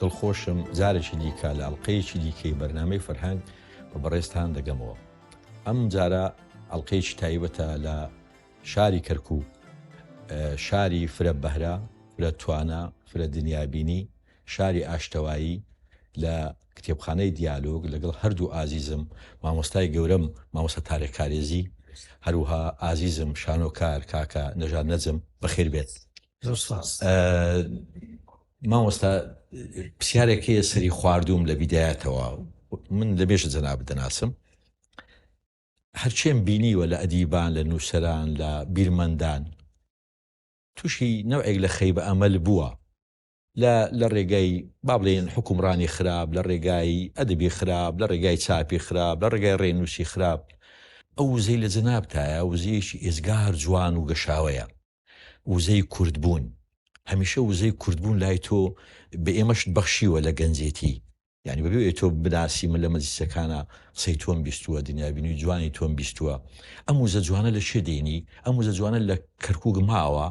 دڵخۆشم جارێکی دیکە لە ئەڵقەیەکی دیکەی بەرنامەی فەرهەنگ بە بەڕێزتان دەگەمەوە. ئەم جارە ئەڵقەیەکی تایبەتە لە شاری کەرکووک، شاری فرە بەهرە، فرە توانا، فرە دنیابینی، شاری ئاشتەوایی، لە کتێبخانەی دیالۆگ لەگەڵ هەردوو ئازیزم، مامۆستای گەورەم مامۆستا تارق کارێزی، هەروەها ئازیزم شانۆکار کاکە نەژاد نەجم. بەخێربێێت. مامۆستا پرسیارێک هەیە سەری خواردوم لە بیدایەتەوە من لە بێژە جەناب دەناسم هەرچێن بینیوە لە ئەدیبان لە نووسەران لە بیرمەندان تووشی نەوێک لە خەی بە ئەمەل بووە لە لە ڕێگای بابلێن حکومڕانی خراپ لە ڕێگای ئەدەبی خراپ لە ڕێگای چاپی خراپ لە ڕێگای ڕێنووسی خراپ ئەو وزەی لە جەنابتایە وزیەکی ئێزگار جوان و گەشاوەیە وزەی کوردبوون، هەمیشە وزەی کوردبوون لای تۆ بە ئێمەشت بەخشیوە لە گەنجێتی، یانی بەبێ ئەوەی تۆ بناسی من لە مەجلیسەکانا قسەی تۆم بیستووە، دنیابینی جوانی تۆم بیستووە، ئەم وزە جوانە لە کوێ دێنی؟ ئەم وزە جوانە لە کەرکووک ماوە؟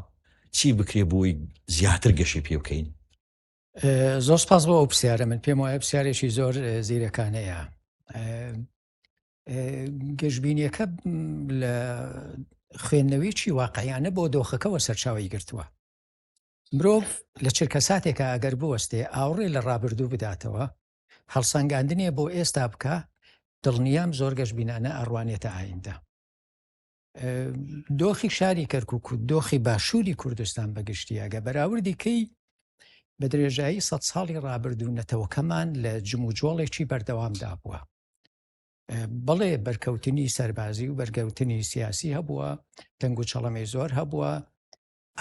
چی بکرێ بۆی زیاتر گەشەی پێ بکەین؟ زۆر سپاس بۆ ئەو پرسیارە، من پێم وایە پرسیارێکی زۆر زیرەکانەیە. گەشببینیەکە لە خوێندنەوەیکی واقعیانە بۆ دۆخەکەەوە سەرچاوی گرتووە مرۆڤ لە چرکە ساتێکە ئەگەر بوەستێ ئاوڕێ لە ڕابردوو بداتەوە هەڵسەنگاندنێ بۆ ئێستا بکە دڵنیام زۆر گەشببینانە ئەڕوانێتە ئایندە دۆخی شاری کەرکک و دۆخی باشووری کوردستان بەگشتیاگە بەراوردیکەی بە درێژایی سە ساڵی ڕابردوو نەتەوەکەمان لە جموجۆڵێکی بەردەوامدا بووە بەڵێ بەرکەوتنی سەربازی و بەرگەوتنی سیاسی هەبووە تەنگ و چەڵەمەی زۆر هەبووە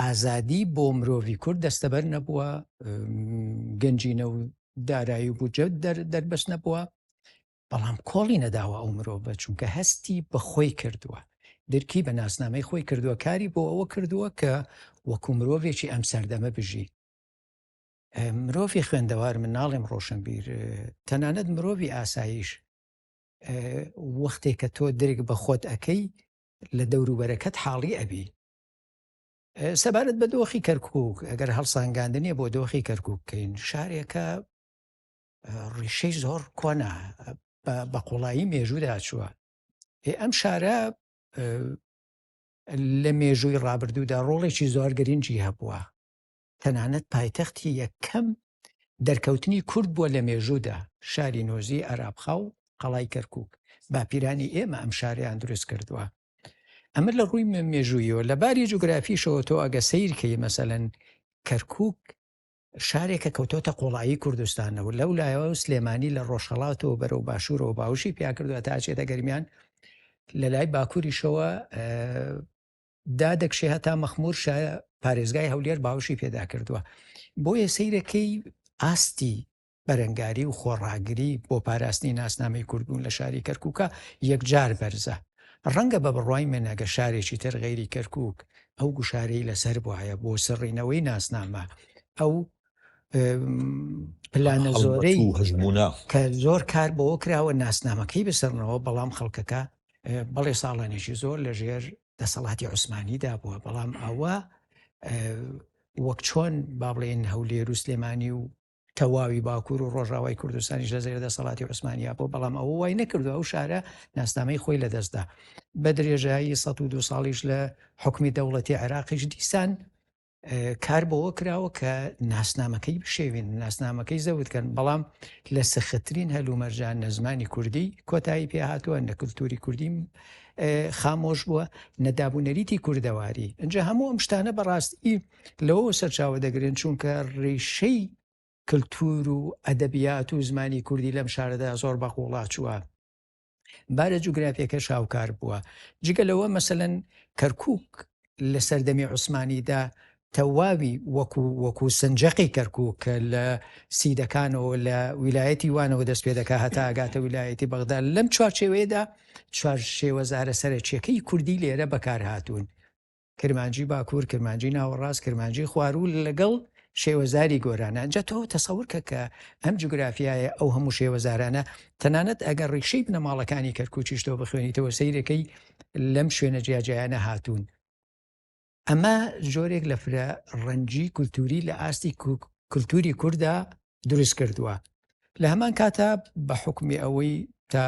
ئازادی بۆ مرۆڤی کورد دەستەبەر نەبووە گەنجینە و دارایی و بجە دەربەست نەبووە بەڵام کۆڵی نەداوە ئەو مرۆڤە چونکە هەستی بە خۆی کردووە درکی بە ناسنامەی خۆی کردووە کاری بۆ ئەوە کردووە کە وەکو مرۆڤێکی ئەم سەردەمە بژی مرۆڤی خوێندەوار من ناڵێم ڕۆشنبیر تەنانەت مرۆڤی ئاساییش وەختێک کە تۆ درک بە خۆت ئەەکەی لە دەوروبەرەکەت حاڵی ئەبی سەبارەت بە دۆخی کەرکک ئەگەر هەڵسانگاندنیە بۆ دۆخی کەرکک بکەین شارێکە ڕیشەی زۆر کۆنا بە قوڵایی مێژوودا چووە ئەم شارە لە مێژووی ڕابردوودا ڕۆڵێکی زۆر گرنگی هەبووە تەنانەت پایتەختی یەکەم دەرکەوتنی کورد بووە لە مێژوودا، شاری نۆزی، ئارابخا و قەڵای کەرکووک، باپیرانی ئێمە ئەم شارەیان دروست کردووە. ئەمە لە ڕووی مێژوویەوە، لە باری جوگرافیشەوە تۆ ئەگە سەیر کەی مەسەلەن کەرکووک شارێکە کەوتۆتە قۆڵایی کوردستانەوە لەو لایەوە سلێمانی لە ڕۆژهڵاتەوە بەرەو باشوورەوە باوشی پیا کردووە تاچێتە گەرمیان لە لای باکووریشەوە دا دەکشێ هەتا مەخمور شایە پارێزگای هەولێر باوشی پێدا کردووە بۆیە سیرەکەی ئاستی بەرەنگاری و خۆڕاگری بۆ پاراستنی ناسنامەی کوردبوون لە شاری کەرکووکە یەکجار بەرزە ڕەنگە بە بڕای منەگە شارێکی تر غەیری کەرکک ئەو گوشارەی لەسەر بواە بۆ سڕینەوەی ناسنامە ئەو پلانە زۆرەی هەژمونە کە زۆر کار بەوە کراوە ناسنامەکەی بسەرنەوە بەڵام خەڵکەکە بەڵێ ساڵانێکی زۆر لە ژێر دەسەڵاتی عوسمانیدا بووە بەڵام ئەوە وەک چۆن با بڵێن هەولێر و سلێمانی و تەواوی باکوور و ڕۆژاوای کوردستانیش لە زێر دەسەڵاتی عوسمانیا بۆ بەڵام ئەوە وای نەکردو ئەو شارە ناسنامەی خۆی لە دەستدا بە درێژایی 1 دو ساڵیش لە حکومی دەوڵەتی عێراقیش دیسان کار بەوە کراوە کە ناسنامەکەی بشێوین ناسنامەکەی زەوتکەن بەڵام لە سەختترین هەلومەرجان نە زمانی کوردی کۆتایی پێ هاتووە نە کللتوری کوردیم خامۆش بووە نەدابوونەریتی کوردەواری ئەجا هەموو ئەم شتانە بەڕاستی لەوە سەرچاوە دەگرن چونکە ڕێشەی کللتور و ئەدەبیات و زمانی کوردی لەم شارەدا زۆر بەقوڵا چووە بارە جوگرافیەکەش هاوکار بووە جگە لەوە مەسەن کەرکک لە سەردەمی عوسمانیدا تەواوی وەکو وەکو سنجەقی کەرکک کە لە سیدەکانەوە لە ویلایەتی وانەوە دەست پێ دەکە هەتا ئەگاتە ویلایەتی بەغدا لەم چوارچێوەیەدا چوار شێوەزارە سەرچیەکەی کوردی لێرە بەکارهاتوون کرمانجی باکوور، کرمانجی ناوەڕاست، کرمانجی خواروو لەگەڵ شێوەزاری گۆرانە ئەجا تۆ تەسەورکە کە ئەم جوگرافایە ئەو هەموو شێوەزارانە تەنانەت ئەگەر ڕیکشەی بنەماڵەکانی کەرکوچیش تۆ بخوێنیتەوە سیرەکەی لەم شوێنە جیاجیایانە هاتوون ئەمە جۆرێک لە فرە ڕەنجی کولتوری لە ئاستی کولتوری کووردا دروست کردووە لە هەمان کاتە بە حکومی ئەوەی تا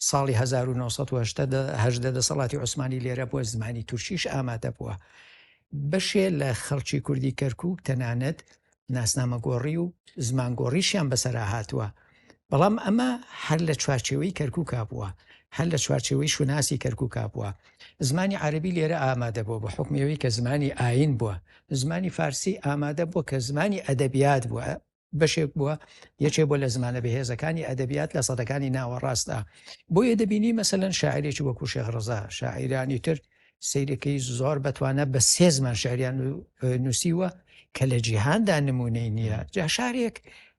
ساڵی هەزار و نۆ سەد و هەژدە دەسەڵاتی عوسمانی لێرە بووە، زمانی تورکیش ئامادە بووە. بەشێ لە خەڵکی کوردی کەرکووک تەنانەت ناسنامەگۆڕی و زمانگۆڕیشیان بەسەرا هاتووە، بەڵام ئەمە هەر لە چوارچێوەی کەرکووکا بووە، هەر لە چوارچێوەی شوناسی کەرکووکا بووە. زمانی عەرەبی لێرە ئامادە بووە بە حوکمی ئەوەی کە زمانی ئایین بووە، زمانی فارسی ئامادە بووە کە زمانی ئەدەبیات بووە، بەشێک بووە یەکێ بۆ لە زمانە بەهێزەکانی ئەدەبیات لە سەدەکانی ناوەڕاستدا بۆیە دەبینی مەسەەن شاعرێکی وەکو شێغڕزا شاعیرانی تر سیرەکەی زۆر بەتوانە بە سێ زمان شاریان نووسیوە کە لە جیهاندا نمونەی نییە جا شارێک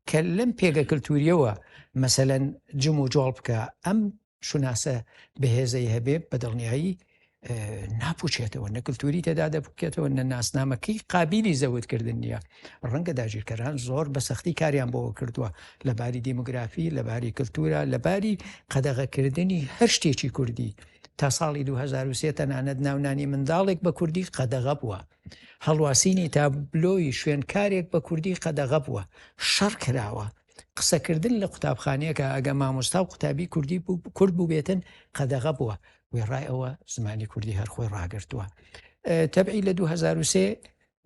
کە لەم پێگە کللتوریەوە مەسەەن جم و جۆڵ بکە ئەم شوناسە بەهێزەی هەبێ بە دڵنیایی ناپوچێتەوە نە کللتوری تێدا دەبکێتەوە نە ناسنامەکەی قابلی زەوتکردن نییە ڕەنگە داگیرکەران زۆر بە سەختی کاریان بۆەوە کردووە لە باری دیموگرافی لە باری کللتورە لە باری قەدەغەکردنی هەر شتێکی کوردی تا ساڵی 2023 تەنانەت ناونانی منداڵێک بە کوردی قەدەغە بووە هەڵواسینی تابلۆی شوێنکارێک بە کوردی قەدەغە بووە شەڕ کراوە قسەکردن لە قوتابخانەیەکە ئەگە مامۆستا و قوتابی کوردی کورد بووبێتن قەدەغە بووە وێڕای ئەوە زمانی کوردی هەرخۆی ڕاگرتووە تەبعی لە 2023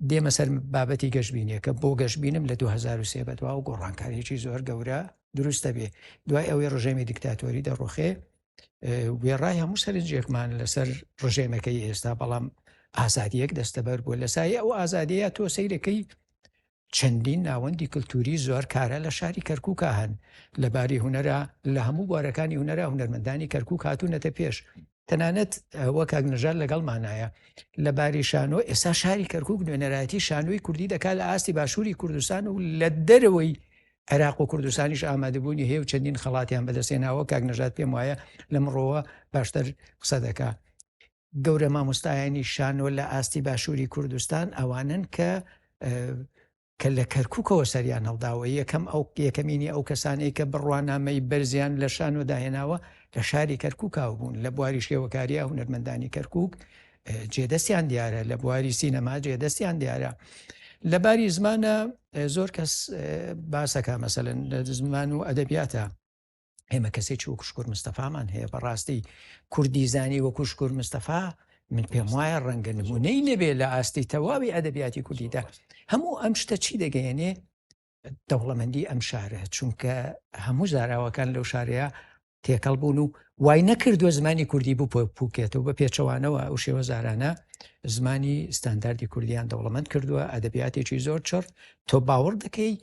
دێمە سەر بابەتی گەشببینیەکە بۆ گەشببینم لە 2023 بەدوا و گۆڕانکاریی زۆر گەورە دروستە بێ دوای ئەوەی ڕژێمی دیکتاتۆری دەڕۆخێ وێڕای هەموو سەرنجێکمان لەسەر ڕژێمەکەی ئێستا بەڵام ئازادیەک دەستەبەر بووە لە سایە ئەو ئازادەیە تۆ سیرەکەی چەندین ناوەندی کلتووری زۆر کارا لە شاری کەرکووکا هەن، لە باری هونەرا لە هەموو بوارەکانی هونەرا هونەرمەندانی کەرکووک هاتوونەتە پێش، تەنانەت ئەوە کاک نەژاد لەگەڵمانایە لە باری شانۆ، ئێستا شاری کەرکووک نوێنەرایەتی شانۆی کوردی دەکات لە ئاستی باشووری کوردستان و لە دەرەوەی عێراق و کوردستانیش ئامادەبوونی هەیە و چەندین خەڵاتیان بەدەستێناوە، کاک نەژاد پێم وایە لەمڕۆوە باشتر قسە دەکات. گەورە مامۆستایانی شانۆ لە ئاستی باشووری کوردستان ئەوانن کە کە لە کەرککەوە سەریان هەڵداوە یەکەم ئەو یەکەمینی ئەو کەسانەی کە بڕوانامەی بەرزیان لە شانۆ داهێناوە لە شاری کەرککاو بوون لە بواری شێوەکاریە هونەرمەندانی کەرکک جێدەستیان دیارە لە بواری سینەما جێدەستیان دیارە لە باری زمانە زۆر کەس باسەکە مەسەن لە زمان و ئەدەبیاتە ئێمە کەسێکی وەکو شکور مستەفامان هەیە بەڕاستی کوردی زانی وەکو شکور مستەفا من پێم وایە ڕەنگە نمونەی نەبێ لە ئاستی تەواوی ئەدەبیاتی کوردیدا هەموو ئەم شتە چی دەگەیەنێ دەوڵەمەندی ئەم شارە چونکە هەموو زاراوەکان لەو شارەیە تێکەڵ بوون و وای نەکردووە زمانی کوردی بوو پوکێتەوە بە پێچەوانەوە ئەو شێوە زارانە زمانی ستانداردی کوردیان دەوڵەمەند کردووە ئەدەبیاتێکی زۆر چڕ تۆ باوەڕ دەکەی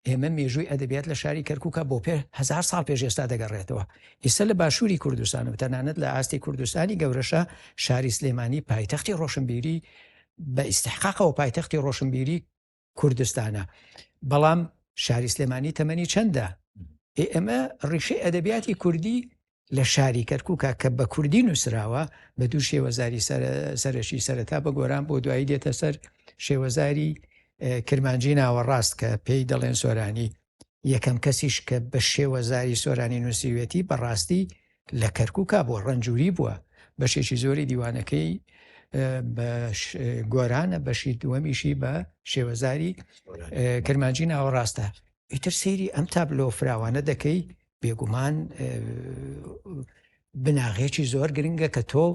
ئێمە مێژووی ئەدەبیات لە شاری کەرکووکە بۆ پێ هزار ساڵ پێش ئێستا دەگەڕێتەوە ئیسە لە باشووری کوردستان و تەنانەت لە ئاستی کوردستانی گەورەشە شاری سلێمانی پایتەختی ڕۆشنبیری بە ئیسحقاقەوە پایتەختی ڕۆشنبیری کوردستانە بەڵام شاری سلێمانی تەمەنی چەندە ئێمە ڕیشەی ئەدەبیاتی کوردی لە شاری کەرکوکە کە بە کوردی نووسراوە بە دوو شێوەزاری سەرەکی سەرەتا بە گۆران بۆ دوایی دێتە سەر شێوەزاری کرمانجی ناوەڕاست کە پێی دەڵێن سۆرانی یەکەم کەسیش کە بە شێوەزاری سۆرانی نووسیوێتی بەڕاستی لە کەرکوکە بۆ ڕەنجوری بووە بەشێکی زۆری دیوانەکەی گۆرانە بەشی دووەمیشی بە شێوەزاری کرمانجی ناوەڕاستە ئیتر سەیری ئەم تابلۆ فراوانە دەکەی بێگومان بناغێکی زۆر گرنگە کە تۆ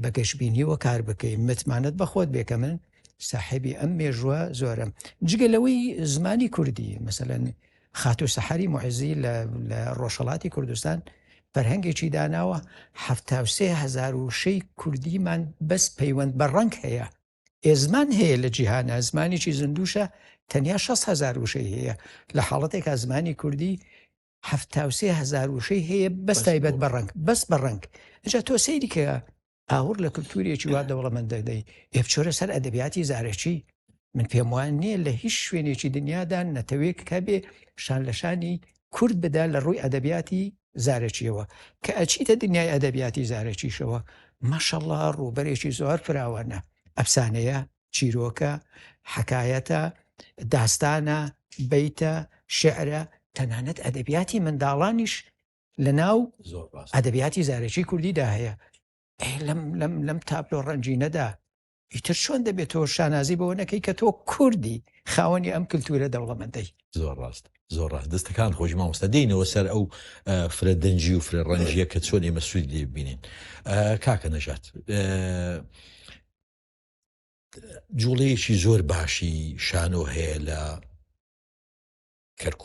بە گەشببینیەوە کار بکەی متمانەت بەخۆت بێکە من ساحبی ئەم مێژووە زۆرم جگە لەوەی زمانی کوردی مثلەن خاتو سەحری معزی لە ڕۆژهڵاتی کوردستان فەرهەنگێکی داناوە هزار و شەی کوردیمان بەس پەیوەند بە ڕنگ هەیە ئێ زمان هەیە لە جیهانە زمانێکی زندوشە تەنیا 6 هزار وشەی هەیە لە حاڵەتێکا زمانی کوردی هەفتاوسێ هزار وشەی هەیە بەس تایبەت بە ڕنگ بەس بە ڕنگ جا تۆ سەیری کە ئاور لە کللتوریەکی وا دەوڵەمەند دەدەی ئێبچۆرە سەر ئەدەبیاتی زارەکی من پێم وان نییە لە هیچ شوێنێکی دنیادا نەتەوێک کە بێ شان لە شانی کورد بدا لە ڕووی ئەدەبیاتی زارەکیەوە کە ئەچیتە دنیای ئەدەبیاتی زارەکیشەوە ماشەڵڵا ڕووبەرێکی زۆر فراوانە ئەفسانەیە چیرۆکە حەکایەتە داستانە بیتە شعرە تەنانەت ئەدەبیاتی منداڵانیش لە ناو ئەدەبیاتی زارەکی کوردیدا هەیە لەم لەم لەم تابلۆ ڕەنجینەدا ئیتر چۆن دەبێت تۆ شانازی بەوە نەکەی کە تۆ کوردی خاوەنی ئەم کللتورە دەوڵەمەندەی. زۆر ڕاست زۆر ڕاست دەستەکان خۆش مامۆستا دێنەوە سەر ئەو فرە دەنجی و فرە ڕەنجە کە چۆن ئێمە سوود لێ ببینین کاکە نەژات جوڵەیەکی زۆر باشی شانۆ هەیە لە کەرکک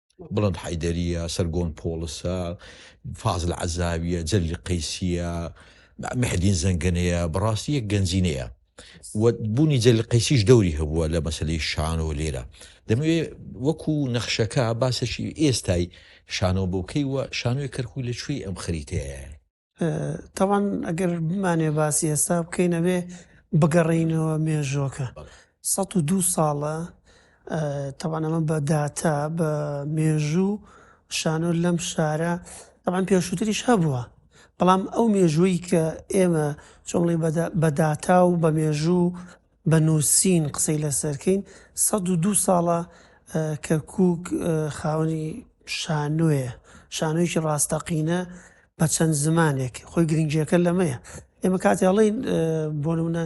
بڵند حەیدەرییە، سەرگۆن پۆڵسە، فازل عەزاویە، جەلیل قەیسییە، محدین زەنگەنەیە، بەڕاستی یەک گەنجینەیە. بوونی جەلیل قەیسیش دەوری هەبووە لە مەسەلەی شانۆ لێرە. دەمەوێ وەکو نەخشەکە باسەکی ئێستای شانۆ بۆکەی و شانۆی کەرکووک لە کوێی ئەم خەریتەیە؟ تاوان ئەگەر بمانێ باسی ئێستا بکەین ئەوێ بگەڕینەوە مێژۆکە سە و دو ساڵە تەوانەمە بە داتا بە مێژوو شانۆ لەم شارە ئەوان پێشووتریش هەبووە بەڵام ئەو مێژووی کە ئێمە چۆڵی بەداتا و بە مێژوو بە نووسین قسەی لەسەر کەین. سەد و دوو ساڵە کەرکووک خاوەنی شانۆیە، شانۆیەکی ڕاستەقینە بە چەند زمانێک، خۆی گرنگییەکە لەمەیە. ئێمە کاتێ ئەڵێین بۆ نموونە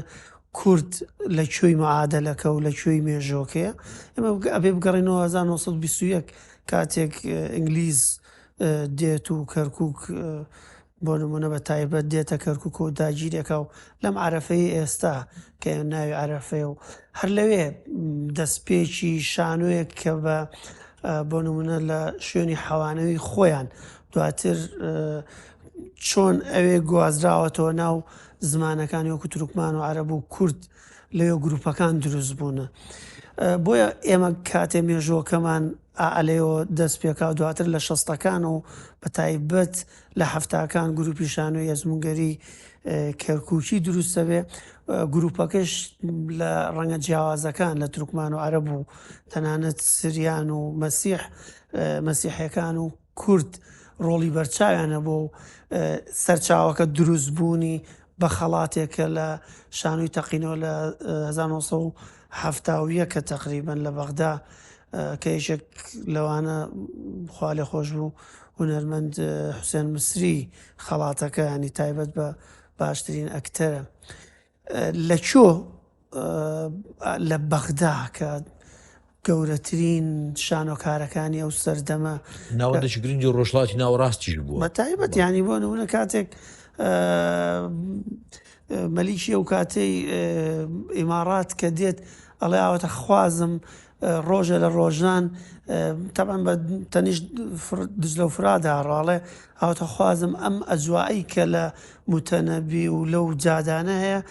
کورد لە کوێی معادەلەکە و لە کوێی مێژۆکەیە، ئێمە ئەبێ بگەڕێینەوە هەزار و نۆ سەد و بیست و یەک کاتێک ئینگلیز دێت و کەرکووک بۆ نموونە بە تایبەت دێتە کەرکوکە و داگیرێکا و لەم عرفەی ئێستا کە ناوی عرفەیە و هەر لەوێ دەستپێکی شانۆیەک کە بە بۆ نمونە لە شوێنی حەوانەوی خۆیان دواتر چۆن ئەوێ گوازراوەتەوە ناو زمانەکانی وەکو ترکمان و عرب و کورد لەوێ گروپەکان دروست بوونە بۆیە ئێمە کاتێ مێژۆکەمان ئالەوە دەست پێکا دواتر لە شەستەکان و بە تایبەت لە حەفتاکان گروپی شانۆی ئەزمونگەری کەرکوکی دروست دەبێ گروپەکەش لە ڕەنگە جیاوازەکان لە ترکمان و عەرب و تەنانەت سریان و مەسیح مەسیحەکان و کورد ڕۆڵی بەرچاویانە بۆ سەرچاوەکە دروستبوونی بە خەڵاتێکە لە شانوی تەقینەوە لە 1970 حەفتا و یەک ە تەقریبەن لە بەغدا کە یەکێک لەوانە خوا لێ خۆش بوو هونەرمەند حوسێن مسری خەڵاتەکە ینی تایبەت بە باشترین ئەکتەرە لە چۆ لە بەغدا کە گەورەترین شانۆکارەکانی ئەو سەردەمە ناوەندێکی گرنگی ڕۆژڵاتی ناوەڕاستیش بوو بە تایبەت ینی بۆ نمونە کاتێک مەلیکی ئەو کاتەی ئیماڕات کە دێت ئەڵێ ئاواتە خوازم ڕۆژە لە ڕۆژان تەبان بە تەنیشت دزلە و فرادا ڕاڵێ ئاواتە خوازم ئەم ئەجوایی کە لە متەنەبی و لەو جادانە هەیە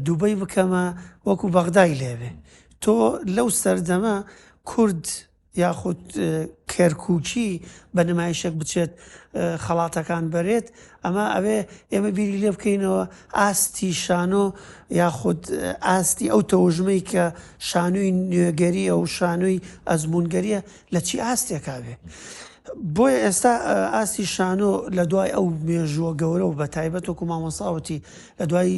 دوبەی بکەمە وەکو بەغدای لێبێ تۆ لەو سەردەمە کورد یاخود کەرکوکی بە نمایشێک بچێت خەڵاتەکان بەرێت ئەمە ئەوێ ئێمە بیری لێ بکەینەوە ئاستی شانۆ یاخود ئاستی ئەو تەوژمەی کە شانووی نوێگەریە و شانووی ئەزمونگەریە لە چی ئاستێکاوێ بۆیە ئێستا ئاستی شانۆ لە دوای ئەو مێژووە گەورە و بە تایبەت و کومامۆساوتی لە دوای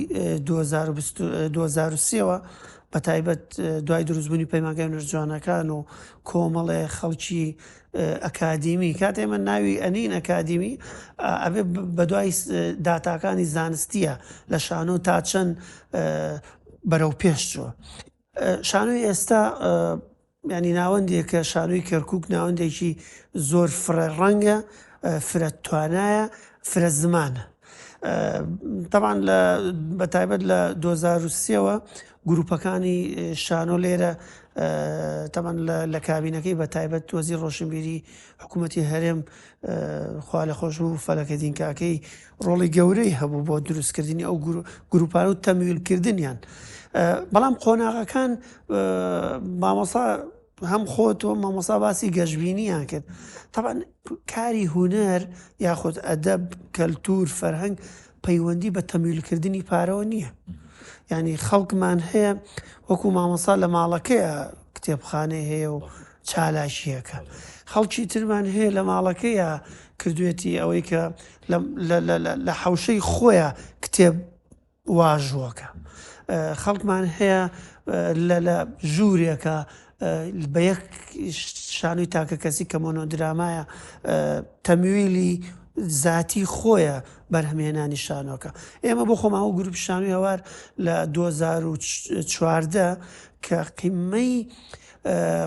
2023ەوە بەتایبەت دوای دروستبوونی پەیمانگای نەرجوانەکان و کۆمەڵێ خەڵکی ئەکادیمی کات ئێمە ناوی ئەنین ئەکادیمی ئەبێ بەدوای داتاکانی زانستیە لە شانۆ تا چەند بەرەو پێشچوە شانۆی ئێستا یانی ناوەندێکە شانۆی کەرکوک ناوەندێکی زۆر فرە ڕەنگە فرە توانایە فرە زمانە تەوان لە بەتایبەت لە 2023ەوە گروپەکانی شانۆ لێرە تەمان لە کابینەکەی بە تایبەت تۆزی ڕۆشنبیری حکوومەتتی هەرێم خوا لە خۆش و فەلەکە دینکاکەی ڕۆڵی گەورەی هەبوو بۆ دروستکردنی ئەو گروپان و تەمویلکردنیان بەڵام قۆناغەکان مامۆسا هەم خۆت و مامۆسا باسی گەشببینیان کرد تاان کاری هوەر یاخود ئەدەب کەلتور فەرهەنگ پەیوەندی بە تەمیلکردنی پارەوە نییە ینی خەڵکمان هەیە وەکو مامۆسا لە ماڵەکەیە کتێبخانەی هەیە و چالاکیەکە خەڵکی ترمان هەیە لە ماڵەکەیە کردوێتی ئەوەی کە لە حەوشەی خۆیە کتێب واژۆکە خەڵکمان هەیە لە ژوورێکە بە یەک شانوی تاکە کەسی کە مۆنۆدرامایە تەمویلی زاتی خۆیە بەرهەمێنانی شانۆکە ئێمە بۆ خۆمان و گروپ شانوی هەوار لە 2014 کە قیمەی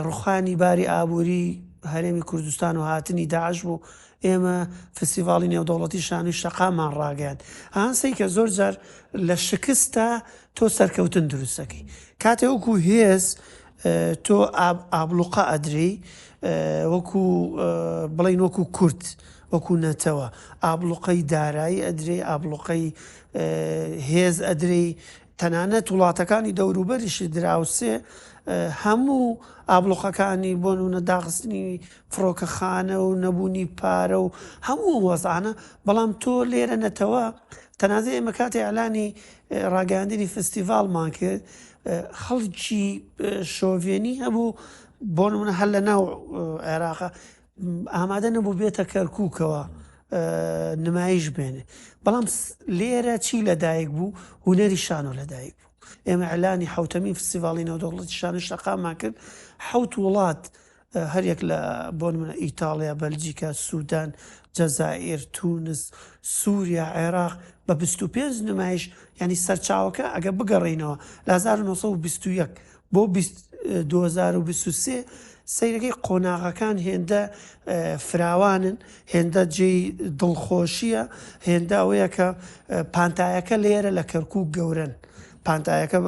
ڕوخانی باری ئابووری هەرێمی کوردستان و هاتنی داعش بوو ئێمە فستیڤاڵی نێودەوڵەتی شانۆی شەقاممان ڕاگەیاند. هان سەیکە زۆر جار لە شکستدا تۆ سەرکەوتن دروست دەکەی. کاتێ وەکو هێز تۆ ئابڵوقە ئەدرێی وەکو بڵێین وەکو کورد، وەکو نەتەوە ئابڵوقەی دارایی ئەدرێی، ئابڵوقەی هێز ئەدرێی، تەنانەت وڵاتەکانی دەوروبەریشی دراوسێ هەموو ئابڵوقەکانی بۆ نونە داخستنی فڕۆکەخانە و نەبوونی پارە و هەموو وەزانە بەڵام تۆ لێرە نەتەوە تەنازە ئێمە کاتی ئەلانی ڕاگەاندنی فستیڤالمان کرد خەڵکی شۆڤێنی هەبوو بۆ نمونە هەر لە ناو عێراقە ئامادە نەبوو بێتە کەرکووکەوە نمایش بێنێ بەڵام لێرە چی لەدایک بوو هوەری شانۆ لەدایک بوو ئێمە ئەلانی حوتەمین فستیڤاڵی نەودەوڵەتی شانە شەقامان کرد حوت وڵات هەریەک لە بۆن منە ئیتاڵیا بەلجیکا سوودان جەزائر تونس سووریا عێراق بە 25 نمایش ینی سەرچاوەکە ئەگە بگەڕینەوە لە 1920 بۆ بیست دوو هەزار و بیست و سێ سەیرەکەی قۆناغەکان هێندە فراوانن هێندە جێی دڵخۆشییە هێندە ئەوەیە کە پانتایەکە لێرە لە کەرکوو گەورن پانتایەکە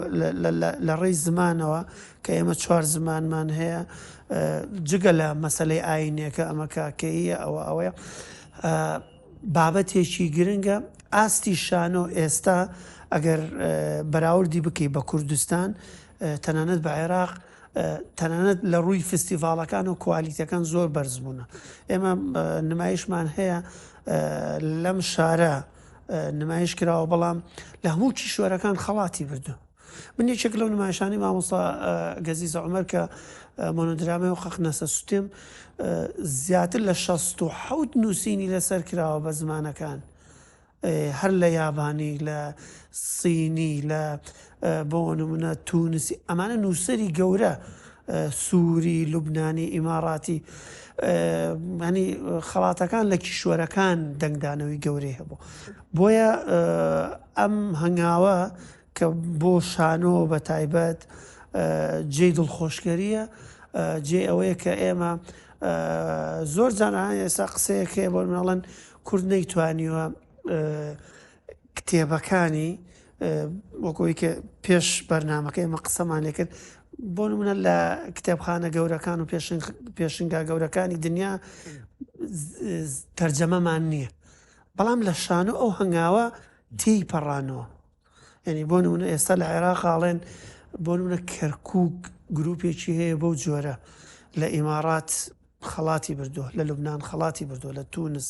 لە ڕێی زمانەوە کە ئێمە چوار زمانمان هەیە جگە لە مەسلەی ئاینەکە ئەمە کاکەیە ئەوە ئەوەیە بابەتێکی گرنگە، ئاستی شانۆ ئێستا ئەگەر بەراوردی بکەی بە کوردستان تەنانەت بە عێراق تەنانەت لە ڕووی فستیڤالەکان و کوالیتەکان زۆر بەرز بوونە ئێمە نمایشمان هەیە لەم شارە نمایش کراوە بەڵام لە هەموو کیشوەرەکان خەڵاتی بردووە من یەکێک لەو نمایشانەی مامۆستا گەزیز عومەر کە مۆنۆدرامای و قەقنەسە سوتێم زیاتر لە شەست و حەوت نووسینی لەسەر کراوە بە زمانەکان هەر لە یابانی لە سینی لە بۆ نمونە تونسی ئەمانە نووسری گەورە سووری لوبنانی ئیماڕاتی ینی خەڵاتەکان لە کیشوەرەکان دەنگدانەوەی گەورەی هەبوو بۆیە ئەم هەنگاوە کە بۆ شانۆ بە تایبەت جێی دڵخۆشکەرییە، جێی ئەوەیە کە ئێمە زۆر جار ئێستا قسەیەک هەیە بۆ مناڵن کورد نەیتوانیوە کتێبەکانی وەکۆی کە پێش بەرنمەکە ئێمە قسەمان لێ کرد بۆ منە لە کتێبخانە گەورەکان و پێشنگا گەورەکانی دنیا تەرجەمەمان نییە بەڵام لە شانۆ ئەو هەنگاوە تێی پەڕانەوە یانی بۆ نمونە ئێستا لە عێراق ئاڵێن بۆ نمونە کەرکک گروپێکی هەیە بەو جۆرە لە ئیمارات خەڵاتی بردووە لە لوبناان خەڵاتی بردووە لە تونس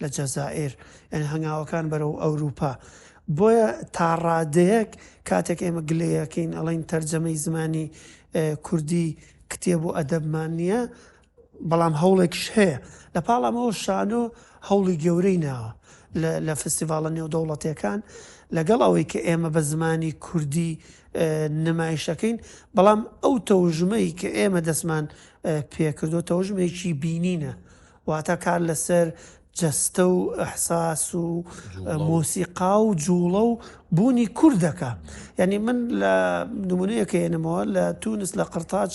لە جەزائر یعنی هەنگاوەکان بەرەو ئەوروپا بۆیە تاڕادەیەک کاتێک ئێمە گلەیەکەین ئەڵین تەرجەمەی زمانی کوردی کتێب و ئەدەبمان نییە بەڵام هەوڵێکیش هەیە. لە پاڵ ئەمەوە شانۆ هەوڵی گەورەی ناوە لە فستیڤاڵە نێودەوڵەتییەکان، لەگەڵ ئەوەی کە ئێمە بە زمانی کوردی نمایشەکەین، بەڵام ئەو تەوژمەی کە ئێمە دەستمان پێکردووە تەوژمێکی بینینە، واتە کار لەسەر جەستە و ئەحساس و مۆسیقا و جوڵە و بوونی کوردەکە یعنی من لە نمونەیەکە ێنمەوە لە تونس لە قرتاج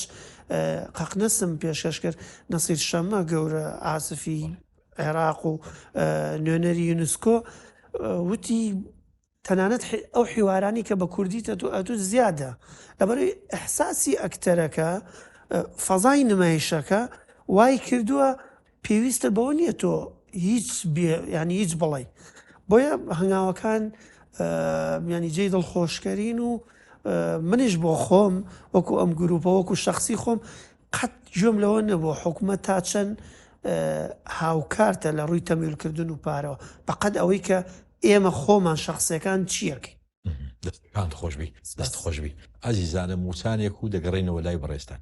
قەقنەسم پێشکەش کرد نەسیر شەمە گەورە ئاسفی عێراق و نوێنەری یونسکۆ وتی تەنانەت ئەو حیوارانەی کە بە کوردی تەتو ئەتو زیادە لەبەرەوەی ئیحساسی ئەکتەرەکە فەزای نمایشەکە وای کردووە پێویستە بەوە نییە تۆ هیچ ینی هیچ بڵی بۆیە هەنگاوەکان ینی جێی دڵخۆشکەرین و منیش بۆ خۆم وەکو ئەم گروپە وەکو شخصی خۆم قەت گوێم لەوە نەبووە حکومەت تا چەند هاوکارتە لە ڕووی تەمیولکردن و پارەوە بەقەت ئەوەی کە ئێمە خۆمان شخصەکان چیەکەین دەستان خۆشبی دەست خۆشبی ئازیزانە موچانێک و دەگەڕێنەوە لای بەڕێستان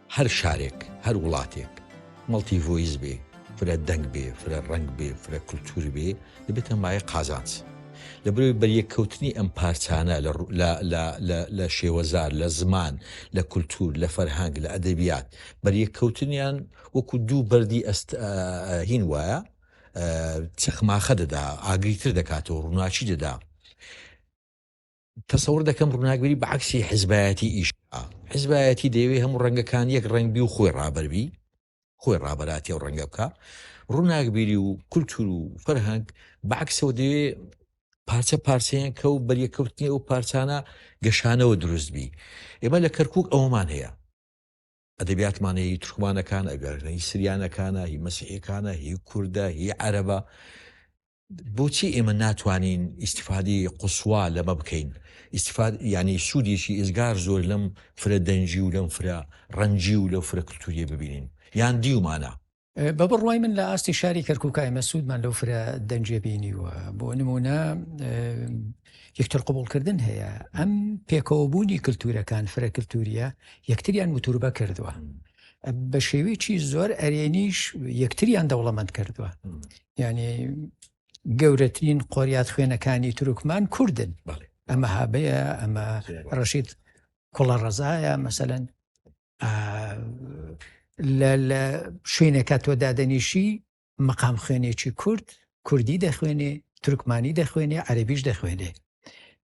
هەر شارێک، هەر وڵاتێک مەڵتی ڤۆیس بێ، فرە دەنگ بێ، فرە ڕەنگ بێ، فرە کلتوور بێ، دەبێتە مایەی قازانج. لەبەرئەوەی بەریەککەوتنی ئەم پارچانە لە لە لە لە لە شێوەزار، لە زمان، لە کلتوور، لە فەرهەنگ، لە ئەدەبیات، بەریەککەوتنیان وەکوو دوو بەردی ئەست هین وایە چەخماخە دەدا، ئاگری تر دەکاتەوە، ڕووناکی دەدا. تەسەور دەکەم ڕووناکبیری بە عکسی حزبایەتی ئیش حزبایەتی دەیەوێ هەموو ڕەنگەکان یەک ڕنگبی و خۆی ڕابەربی خۆی ڕابەراتی و ڕەنگە بکە ڕووناکبیری و کولتور و فەرهنگ بەعکسەوە دەوێ پارچە پارچەیان کە و بەریەکەوتنی ئەو پارچانە گەشانەوە دروست بی ئێمە لە کەرکک ئەومان هەیە ئەدەبیاتمان هی تورکمانەکانە، ئەگەرنا هی سریانەکانە، هی مەسیحیەکانە، هی کوردە، هی عەرەبە، بۆچی ئێمە ناتوانین ئیسیفادی قوسوا لەمە بکەین ئیسیفاد ینی سوودێکی ئزگار زۆر لەم فرە دەنجی و لەم فرە ڕەنجی و لەو فرە کللتوریە ببینین یان دیومانە بە بڕوای من لە ئاستی شاری کەرکک ئەمە سوودمان لەو فرە دەنجێ بینیوە بۆ نمونە یەکتر قوبولکردن هەیە ئەم پێکەوەبوونی کللتورەکان فرە کللتوریە یەکتریان وتوربە کردووە بە شێوەیەکی زۆر ئەرێنیش یەکتریان دەوڵەمەند کردووە یعنی گەورەترین قۆریات خوێنەکانی تروکمان کوردن ئەمە هابەیە ئەمە ڕەشید کوڵە ڕزایە مەسەن لە شوێنێکە تۆ دادەنیشی مەقام خوێنێکی کورد کوردی دەخوێنێ تورکمانی دەخوێنێ عەربیش دەخوێنێ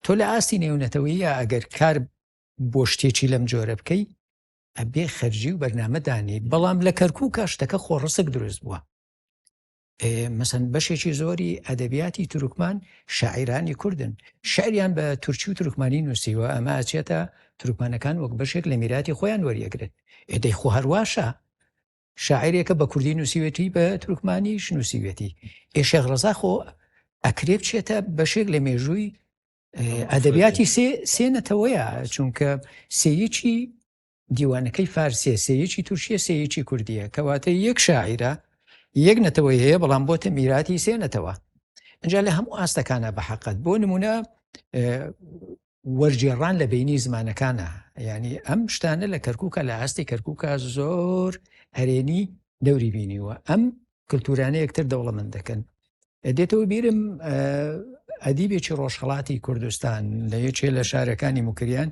تۆ لە ئاستی نێونەتەوەیە ئەگەر کار بۆ شتێکی لەم جۆرە بکەی ئەبێ خەرجی و بەرنمەدانی بەڵام لە کەرکک شتەکە خۆڕسک دروست بووە مەسەن بەشێکی زۆری ئەدەبیاتی تورکمان شاعیرانی کوردن شعریان بە تورکی و تورکمانی نووسیوە ئەمە ئەچێتە تورکمانەکان وەک بەشێک لە میراتی خۆیان وەریەگرن ئێدەی خۆ هەرواشە شاعرێکە بە کوردی نووسیوێتی بە تورکمانیش نووسیوێتی ئێشێغ ڕزا خۆ ئەکرێ بچێتە بەشێک لە مێژووی ئەدەبیاتی سێ سێنەتەوەیە چونکە سێیەکی دیوانەکەی فارسیە سێیەکی تورکیە سێیەکی کوردیە کەواتە یەک شاعیرە یەک نەتەوەی هەیە بەڵام بۆتە میراتی سێنەتەوە اینجا لە هەموو ئاستەکانە بە حقت بۆ نمونە وەرجێڕان لە بینی زمانەکانە ینی ئەم شتانە لە کەرکووکە لە ئاستی کەرکووکە زۆر هەرێنی دەوری بینیوە ئەم کللتورانە یەکتر دەوڵەمەند دەکەن دێتەوە بیرم ئەدیبێکی ڕۆژهڵاتی کوردستان لە یەکێ لە شارەکانی مکریان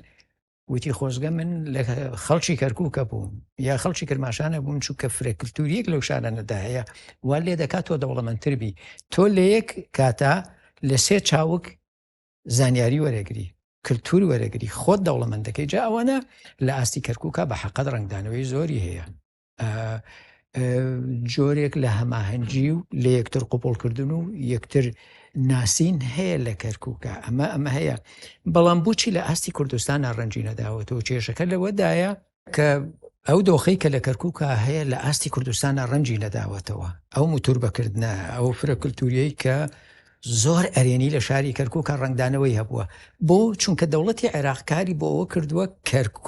وتی خۆزگە من لە خەڵکی کەرکووکە بووم یا خەڵکی کرماشانە بووم چووکە فرەکلتوریەک لەو شانەنەدا هەیە وا لێ دەکات تۆ دەوڵەمەندتر بی تۆ لە یەک کاتا لە سێ چاوک زانیاری وەرەگری کللتور وەرەگری خۆت دەوڵەمەندەکەی جا ئەوانە لە ئاستی کەرکووکە بە حەقەت ڕنگدانەوەی زۆری هەیە جۆرێک لە هەماهەنگی و لە یەکتر قوپڵکردن و یەکتر ناسین هەیە لە کەرکووکە ئەمە ئەمە هەیە بەڵام بچی لە ئاستی کوردستان ناڕەنجی نەداوەتەوە کێشەکە لەوەدایە کە ئەو دۆخی کە لە کەرکووکە هەیە لە ئاستی کوردستانە ڕەنجی نەداوەتەوە ئەو موتور بەکردە ئەو فرە کللتوریەی کە زۆر ئەرێنی لە شاری کەرکووکە ڕنگدانەوەی هەبووە بۆ چونکە دەوڵەتی عێراقکاری بۆ ئەوە کردووە کەرکک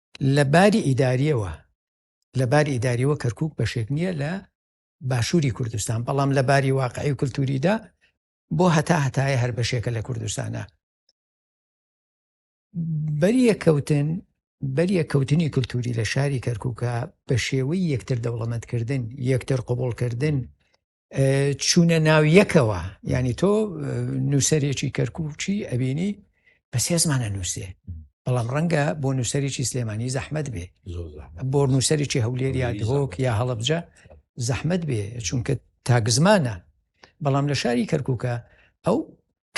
لە باری ئیداریەوە لە باری ئیداریەوە کەرکک بەشێک نییە لە باشووری کوردستان بەڵام لە باری واقعی کولتوریدا بۆ هەتا هەتایە هەر بەشێکە لە کوردستانە بەریە کەوتن بەریە کەوتنی کللتوری لە شاری کەرککە بە شێوەی یەکتر دەوڵەمەندکردن یەکتر قوبولکردن چوونە ناو یەکەوە ینی تۆ نووسەرێکی کەرکوچی ئەبینی بە سێزمانە نووسێ بەڵام ڕەنگە بۆ نووسەرێکی سلێمانی زەحمت بێ بۆ نووسەرێکی هەولێر یا دهۆک یا هەڵبجە زەحمت بێ چونکە تاگزمانە بەڵام لە شاری کەرکووکە ئەو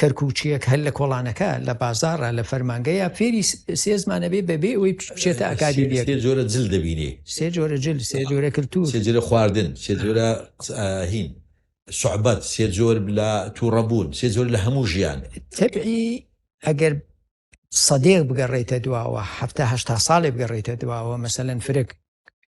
کەرکوکیەک هەر لە کۆڵانەکە لە بازاڕە لە فەرمانگەیە فێری سێ زمانەبێ بەبێ ئەوەی بچێتە ئەکادیمیە سێ جۆرە جل دەبینێ سێ جۆرە جل سێ جۆرە کلتور سێ جۆرە خواردن سێ جۆرە هین سوعبەت سێ جۆر لە تووڕەبوون سێ جۆر لە هەموو ژیان تەبعی ئەگەر سەدێک بگەڕێتە دواوە هەفتاهشتا ساڵێ بگەڕێتە دواوە مەسەەن فرێک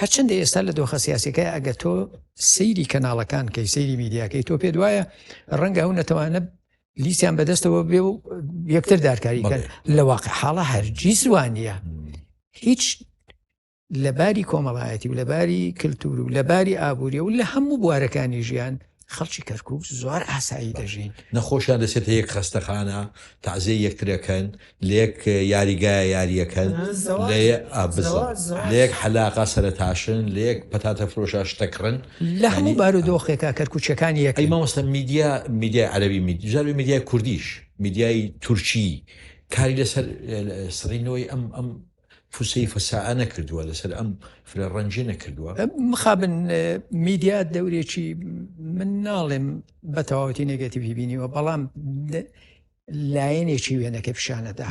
هەرچەندە ئێستا لە دۆخە سیاسەکە ئەگە تۆ سەیری کەناڵەکان کەی سەیری میدیاکەی تۆ پێ دوایە ڕەنگە هەو نەتەوانە لیسیان بەدەستەوە بێ و یەکتر دارکاری کرد لە واقع حاڵە هەرجی زوانە هیچ لەباری کۆمەڵایەتی و لەباری کللتور و لەباری ئابووری و لە هەموو بوارەکانی ژیان خەڵکی کەرکوک زۆر ئاسایی دەژین نەخۆشیان دەچێتە یەک خەستەخانە تازێ یەکترەکەن لێک یاریگایە یاریەکەن لێک حەلاقا سەرتاشن لێک پەتاتە فرۆشا شتەکڕن لە هەموو بارودۆخێکا کەرکوچەکانی یەکەی مامۆستا میدیا میدیای عەربی میدیژاوی میدیای کوردیش میدیای تورکی کاری لەسەر سڕینەوەی ئەم ئەم فسیفە ساە نەکردووە لەسەر ئەم فرە ڕەنجی نەکردووە مخابن میدیا دەورێکی من ناڵێم بە تەواوەتی نگەتیوی بینیوە بەڵام لایەنێکی وێنەکە پیشانەدا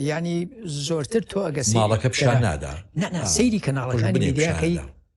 ینی زۆرتر تۆ ئەگە ماڵەکە پیشان نادا سەیری کەناڵەکانی میدیاکەی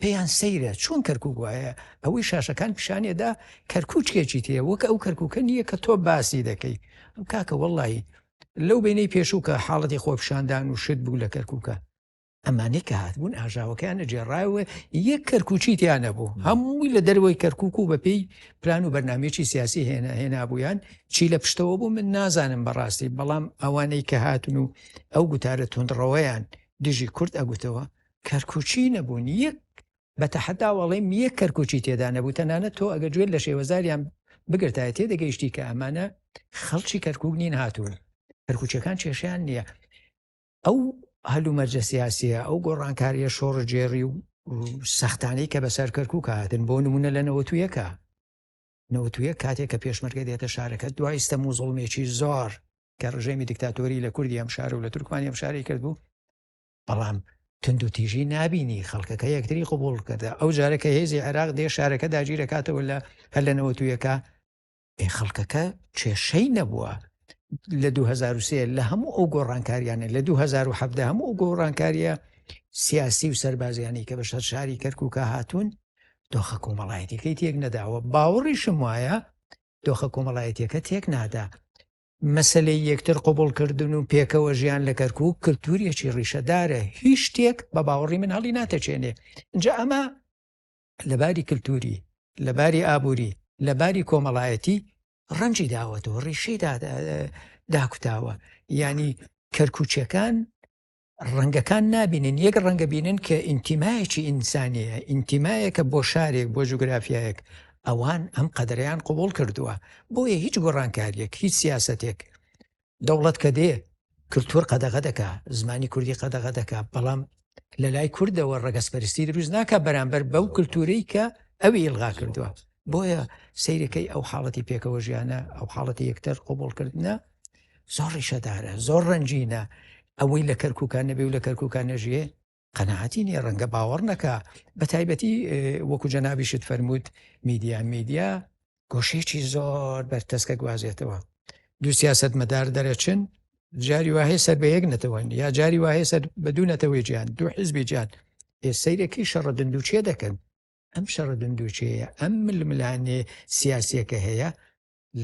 پێیان سەیرە چۆن کەرکک وایە ئەوەی شاشەکان پیشانێدا کەرکوچکێکی تێ وەک ئەو کەرککە نییە کە تۆ باسی دەکەی ئەم کاکە وەڵی لەو بینەی پێشوو کە حاڵەتی خۆپشاندان و شت بوو لە کەرککە ئەمانەی کە هاتبوون ئاژاوەکەیانە جێڕایەوە یەک کەرکوچی تیانە بوو هەمووی لە دەروەی کەرکک و بەپێی پلان و بەرنمێکی سیاسی هێنا هێنابوویان چی لە پشتەوە بوو من نازانم بەڕاستی بەڵام ئەوانەی کە هاتن و ئەو گوتارە تونندڕەوەیان دژی کورد ئەگوتەوە کەرکوچی نەبوون یەک بە تەحدا وەڵێم یەک کەرکوچی تێدا نەبوو تەنانە تۆ ئەگە گوێن لە شێوەزاریان بگرتایە تێ دەگەیشتی کە ئەمانە خەڵکی کەرکک نین هاتوون کەرکوچەکان کێشیان نییە ئەو هەلومەرجە سیاسیە ئەو گۆڕانکاریە شۆڕجێری و سەختانەی کە بەسەر کەرکک هاتن بۆ نمونە لە نەوەتویەکە نەوتویە کاتێک کە پێشمەرگە دێتە شارەکە دوای ستە موزڵمێکی زۆر کە ڕژێمی دیکتاتۆری لە کوردی ئەم شار و لە تورکمانی ئەم شاری کرد بوو بەڵام تند و تیژی نبینی خەڵکەکە یەکتری قوبول کردە ئەو جارەکە هێزی عێراق دێ شارەکە داگیرەکاتەوە لە هەر لە نەوەتویەکە ئێ خەڵکەکە کێشەی نەبووە لە 2023 لە هەموو ئەو گۆڕانکاریانە لە 2017 هەموو ئەو گۆڕانکاریە سیاسی و سربازیانی کە بە شەر شاری کەرکووکە هاتوون دۆخە کۆمەڵایەتەکەی تێک نەداوە باوەڕیشم وایە دۆخە کۆمەڵایەتەکە تێک نادا مەسەلەی یەکتر قبوڵکردن و پێکەوە ژیان لە کەرکک کللتوریەکی ڕیشەدارە هیچ شتێک بە باوەڕی من هەڵی ناتەچێنێ جا ئەمە لەباری کللتوری لەباری ئابووری لەباری کۆمەڵایەتی ڕەنجی داوەتەوە ڕیشەی داکوتاوە ینی کەرکوچەکان ڕەنگەکان نابینن یەک ڕەنگە بینن کە ئینتیمایەکی ئینسانیە ئینتیمایەکە بۆ شارێک بۆ جوگرافایەک ئەوان ئەم قەدریان قوبول کردووە بۆیە هیچ گۆڕانکاریەک هیچ سیاستێک دەوڵەت کە دێ کللتور قەدەغە دەکا زمانی کوردی قەدەغە دەکا بەڵام لە لای کوردەوە ڕگەسپەرستی دروست ناکە بەرامبەر بەو کللتورەی کە ئەوی ئلغا کردووە بۆیە سیرەکەی ئەو حاڵەتی پێکەوە ژیانە ئەو حاڵەتی یەکتر قوبڵکردە زۆر ڕیشەدارە زۆر ڕەنجینە ئەوەی لە کەرکوکان نەبێ و لە کەرکوکان نەژێ قەنەعاتی نیە ڕەنگە باوەڕ نەکە بە تایبەتی وەکو جەنابیشت فەرمووت میدیا میدیا گۆشێکی زۆر بەرتەسکە گوازێتەوە دوو سیاست مەدار دەرەچن جاری وهەیە سەر بە یەک نەتەوەن یا جاری وهەیە سەر بە دوو نەتەوەی جیان دوو حزبی جات سیرەکەی شەڕە دندوچێ دەکەن ئەم شەڕە دندوچەیە ئەم ململانێ سیاسەکە هەیە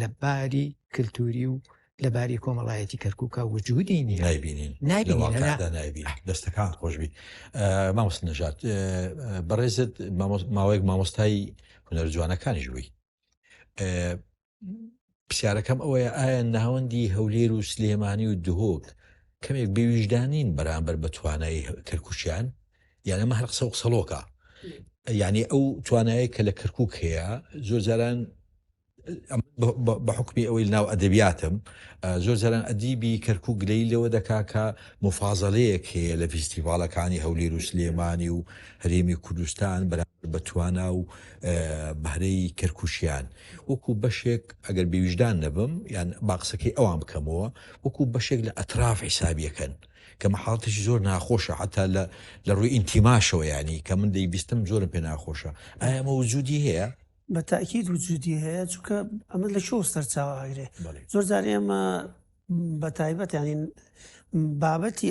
لە باری کللتوری و لە باری کۆمەڵایەتی کەرکووکە وجودی نی نایبینین نایبینین دەستەکان خۆشببی مامۆست نەژات بەڕێزت ماوەیەک مامۆستای هونەر جوانەکانیش بووی پرسیارەکەم ئەوەیە ئایا ناوەندی هەولێر و سلێمانی و دهۆک کەمێک بێویژدانین بەرامبەر بە توانایی کەرکوچیان یان ئەمە هەر قسە و قسەڵۆکە یعنی ئەو توانایە کە لە کەرکک هەیە زۆر جاران بە حکمی ئەوەی ناو ئەدەبیاتم زۆر جاران ئەدیبی کەرکک گلەی لەوە دەکاکە مفاازەەیەک هەیە لە فیستیڤالەکانی هەولێر و سلێمانی و هەرێمی کوردستان بەرامبەر بە توانا و بەرەی کەرکوچیان. وەکو بەشێک، ئەگەر بێویژدان نەبم، یان با قسەکەی ئەوان بکەمەوە، وەکو بەشێک لە ئەتراف حیسابی ئەکەن، کە مە حاڵەتێکی زۆر ناخۆشە حەتا لە لە ڕووی ئینتیماشەوە یانی، کە من دەیبیستم زۆرم پێ ناخۆشە. ئایا ئەمە وجودی هەیە؟ بە تاکید وجودی هەیە، چونکە ئەمە لە کوێوە سەرچاوە ئەگرێ؟ بەڵێ. زۆر جار ئێمە بە تایبەت یانی بابەتی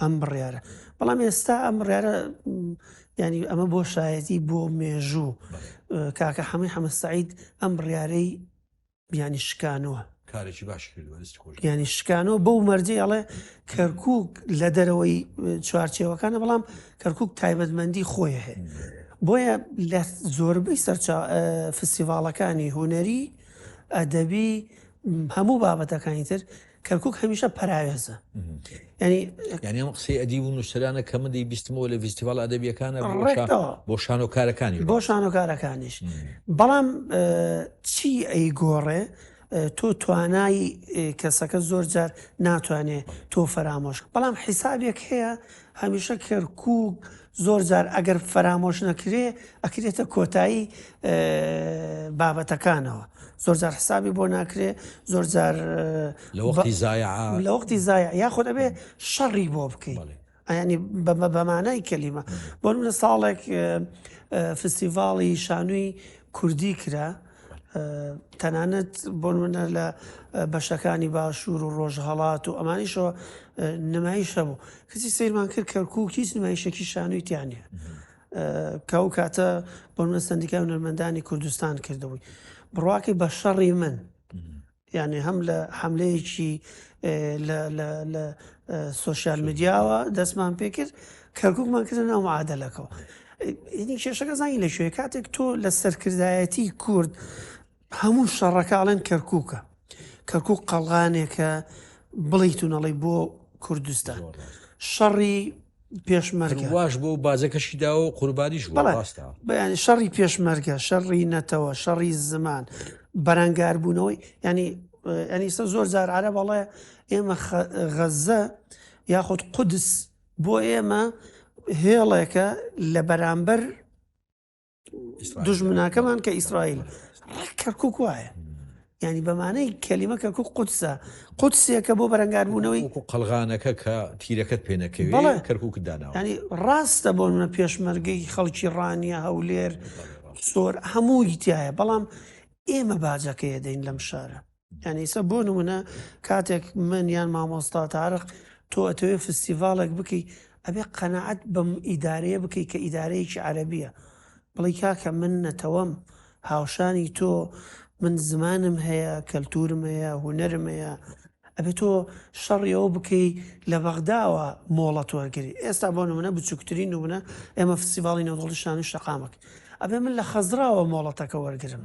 ئەم بڕیارە بەڵام ئێستا ئەم بڕارە ینی ئەمە بۆ شایەتی بۆ مێژوو کاکە حەمەی حەمەسەعید ئەم بڕارەی بیانی شکانەوە کارێکی باش ینی شکانەوە بەو مەرجی ئەڵێ کەرکک لە دەرەوەی چوارچێوەکانە بەڵام کەرکک تایبەتمەندی خۆی هەیە بۆیە لە زۆربەی سەرچا فستیڤاڵەکانی هوەری ئەدەبی هەموو بابەتەکانی تر کەرکک هەمیشە پەراوێزە ینی یعنی ئەم قسەی ئەدی و نووسرانە کە من دەی بیستمەوە لە فیستیڤال ئەدەبیەکانە بۆ شانۆکارەکانی بۆ شانۆکارەکانیش بەڵام چی ئەی گۆڕێ تۆ توانای کەسەکە زۆر جار ناتوانێت تۆ فەرامۆش بەڵام حیسابێک هەیە هەمیشە کەرکک زۆر جار ئەگەر فەرامۆش نەکرێ ئەکرێتە کۆتایی بابەتەکانەوە زۆر جار حسابی بۆ ناکرێ زۆر جار لە وەختی زای لە وەختی زای یاخۆ دەبێ شەڕی بۆ بکەین ئەنی بەمانای کەلیمە بۆ منە ساڵێک فستیڤاڵی شانووی کوردی کرا تەنانەت بۆ نمونە لە بەشەکانی باشوور و ڕۆژهەڵات و ئەمانیشەوە نمایش هەبوو کەسی سیرمان کرد کەرکوو هیچ نمایشەکی شانوی تیانە کە و کاتە بۆ منە سندیکای هونەرمەندانی کوردستان کردبووی بڕواکەی بە شەڕی من یانی هەم لە حەملەیەکی لە سۆشیال میدیاوە دەستمان پێکرد کەرککمان کردن ئەو معادلەکەەوە ئینی کێشەکە زانانی لە شوێ کاتێک تۆ لە سەرکردایەتی کورد هەموو شەڕەکەڵێن کەرککە کەرکک قەڵغانێکە بڵیتونەڵی بۆ کوردستان شەڕی پێشمەرگە واش بۆ بازەکەشی داوە و قوربانیش بەڕاستە بەیان شەڕی پێشمەرگە شەڕی نەتەوە شەڕی زمان بەرەنگاربوونەوەی ینی ئەنیسە زۆر زار عرە بەڵێ ئێمە غەزە یاخود قودس بۆ ئێمە هێڵێکە لە بەرامبەر دژمناکەمان کە ئیسرائیل کەرکک وایە ینی بەمانەی کەلیمە کە کوک قوتسە قوتسێکە بۆ بەرەنگاربوونەوەی قەلغانەکە کە تیرەکەت پێنەکەوی کەرکک دانا ینی ڕاستە بۆ منە پێشمەرگەی خەڵکی ڕانیە هەولێر سۆر هەمووی تایە بەڵام ئێمە باجەکەی دەین لەم شارە یانی سە بۆ نمونە کاتێک من یان مامۆستا تارق تۆ ئەتەوێ فستیڤاڵێک بکەی ئەبێ قەنەعەت بەم ئیدارەیە بکەی کە ئیدارەیەکی عەربیە بڵی کاکە من نەتەوەم هاوشانی تۆ من زمانم هەیە کەلتورم هەیە هوەرم هەیە ئەبێت تۆ شەڕیەوە بکەی لە بەغداوە مۆڵەت وەرگری ئێستا بۆ نمونە بچووکترین نمونە ئێمە فسیڤاڵی نەوەڵی شان و شەقامک ئەبێ من لە خەزراوە مۆڵەتەکە وەرگرم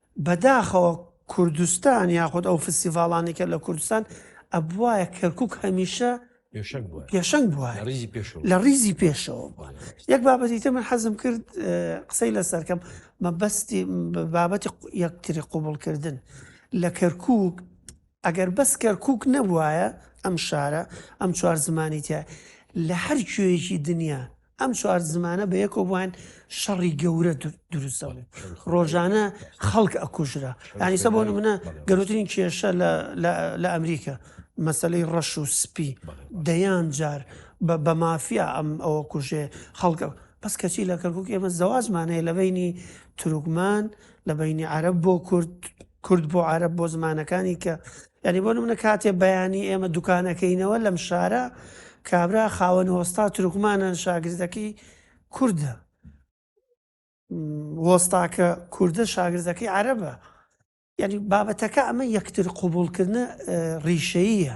بەداخەوە کوردستان یاخود ئەو فستیڤاڵانەی کە لە کوردستان ئەبوایە کەرکک هەمیشە پێشەنگ بووە لە ریزی پێشەوە بووە یەک بابەتی تر من حەزم کرد قسەی لەسەرکەم مەبەستی بابەتی یەکتری قوبڵکردن لە کەرکک ئەگەر بەس کەرکوک نەبوایە ئەم شارە ئەم چوار زمانی تیا لە هەر کوێیەکی دنیا ئەم چوار زمانە بە یەکەوە بووان شەڕی گەورە دروست دەبوو ڕۆژانە خەڵک ئەکوژرا یانیسە بۆ منە گەورترین کێشە لە ئەمریکا مەسلەی ڕەش و سپی دەیان جار بە مافیا ئەم ئەوە کوژێ خەڵکە بەس کەچی لە کەرکک ئێمە زەواجمانەیە لە بینی تروکمان لە بینی عرب بۆ کورد کورد بۆ عەرەب بۆ زمانەکانی کە یعنی بۆ نمونە کاتێ بەیانی ئێمە دوکانەکەینەوە لەم شارە کابرا خاوەن هۆستا ترکمانە شاگردەکەی کوردە وەستاکە کوردە شاگردەکەی عەرەبە یعنی بابەتەکە ئەمە یەکتر قوبولکردە ڕیشەیە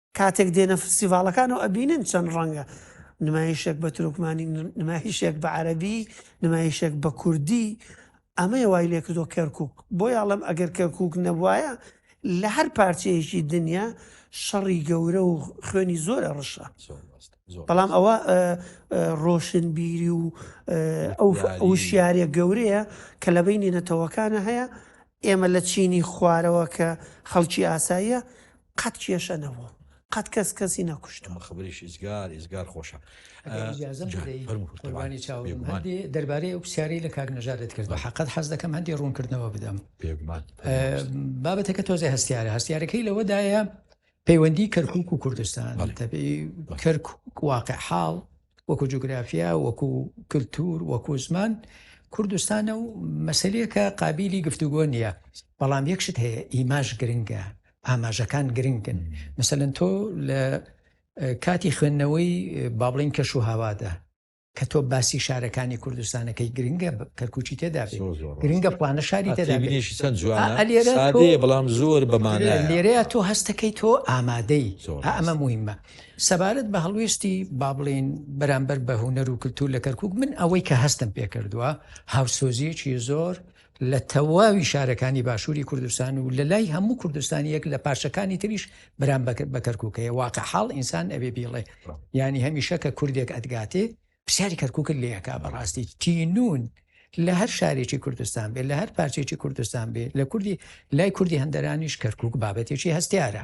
کاتێک دێنە فستیڤاڵەکان و ئەبینن چەند ڕەنگە، نمایشێک بە تورکمانی، نمایشێک بە عەرەبی، نمایشێک بە کوردی، ئەمەیە وای لێکردووە کەرکووک، بۆیە ئەڵێم ئەگەر کەرکووک نەبوایە لە هەر پارچەیەکی دنیا شەڕی گەورە و خوێنی زۆر ئەڕشا. بەڵام ئەوە ڕۆشنبیری و ئەو وشیارە گەورەیە کە لە بینی نەتەوەکانە هەیە، ئێمە لە چینی خوارەوە کە خەڵکی ئاساییە، قەت کێشە نەبوو قەت کەس کەسی نەکوشت و خبریش ئیزگار ئیزگار خۆشە دەربارەی ئەو پرسیارەی لە کاک نەژادت کرد بە حقت حەز دەکەم هەندی ڕوونکردنەوە بدەم بابەتەکە تۆزێ هەستیارە هەستیارەکەی لەوەدایە پەیوەندی کەرکک و کوردستان کەرک واقع حاڵ وەکو جوگرافیا، وەکو کلتور، وەکو زمان کوردستانە و مەسەلەیەکە قابیلی گفتوگۆ نییە، بەڵام یەک شت هەیە ئیماژ گرنگە، ئاماژەکان گرنگن، مەسەلەن تۆ لە کاتی خوێندنەوەی با بڵێین کەش و هاوادا کە تۆ باسی شارەکانی کوردستانەکەی گرنگە کەرکوچی تێدا گرنگە پلانە شاری تێدا بەڵام زۆر بەمانە لێرەیە تۆ هەستەکەی تۆ ئامادەی ئەمە مهمە سەبارەت بە هەڵوێستی با بڵێین بەرامبەر بە هونەر و کللتور لە کەرکک من ئەوەی کە هەستم پێکردووە هاوسۆزیەکی زۆر لە تەواوی شارەکانی باشووری کوردستان و لە لای هەموو کوردستانیەک لە پارچەکانی تریش برام بەکرد بە کەرککەیە واقع حاڵ ئینسان ئەوێ بیڵێ ینی هەمیشە کە کوردێک ئەدگاتێ پرسیاری کەرککت لەکە بەڕاستی تینون لە هەر شارێکی کوردستان بێت لە هەر پارچێکی کوردستان بێت لە کوردی لای کوردی هەندەرانیش کەرکک بابەتێکی هەستیارە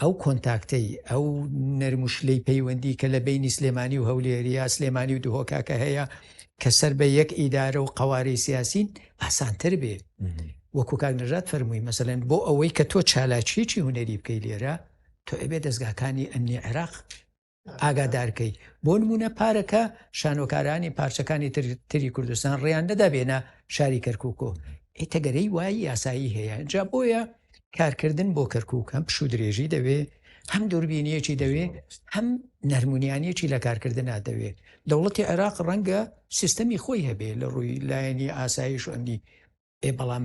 ئەو کۆنتاکتەی، ئەو نەرم و شلەی پەیوەندی کە لە بەینی سلێمانی و هەولێریە، سلێمانی و دهۆکە کە هەیە کە سەر بە یەک ئیدارە و قەوارەی سیاسین ئاسانتر بێ وەکو کاک نەژاد فەرمووی مەسەلەن بۆ ئەوەی کە تۆ چالاکیەکی هونەری بکەی لێرە تۆ ئەبێ دەستگاکانی ئەمنی عێراق ئاگادارکەیت بۆ نمونە پارەکە شانۆکارانی پارچەکانی تر تری کوردستان ڕیان نەدا بێنە شاری کەرککۆ ئیتەگەرەی وای یاسایی هەیە جا بۆیە کارکردن بۆ کەرکک هەم پشو درێژی دەوێ هەم دووربینیەکی دەوێ هەم نەرمونیانیەکی لە کارکردنا دەوێ دەوڵەتی عێراق ڕەنگە سیستەمی خۆی هەبێ لە ڕووی لایەنی ئاسایش ئەمنی ئێ بەڵام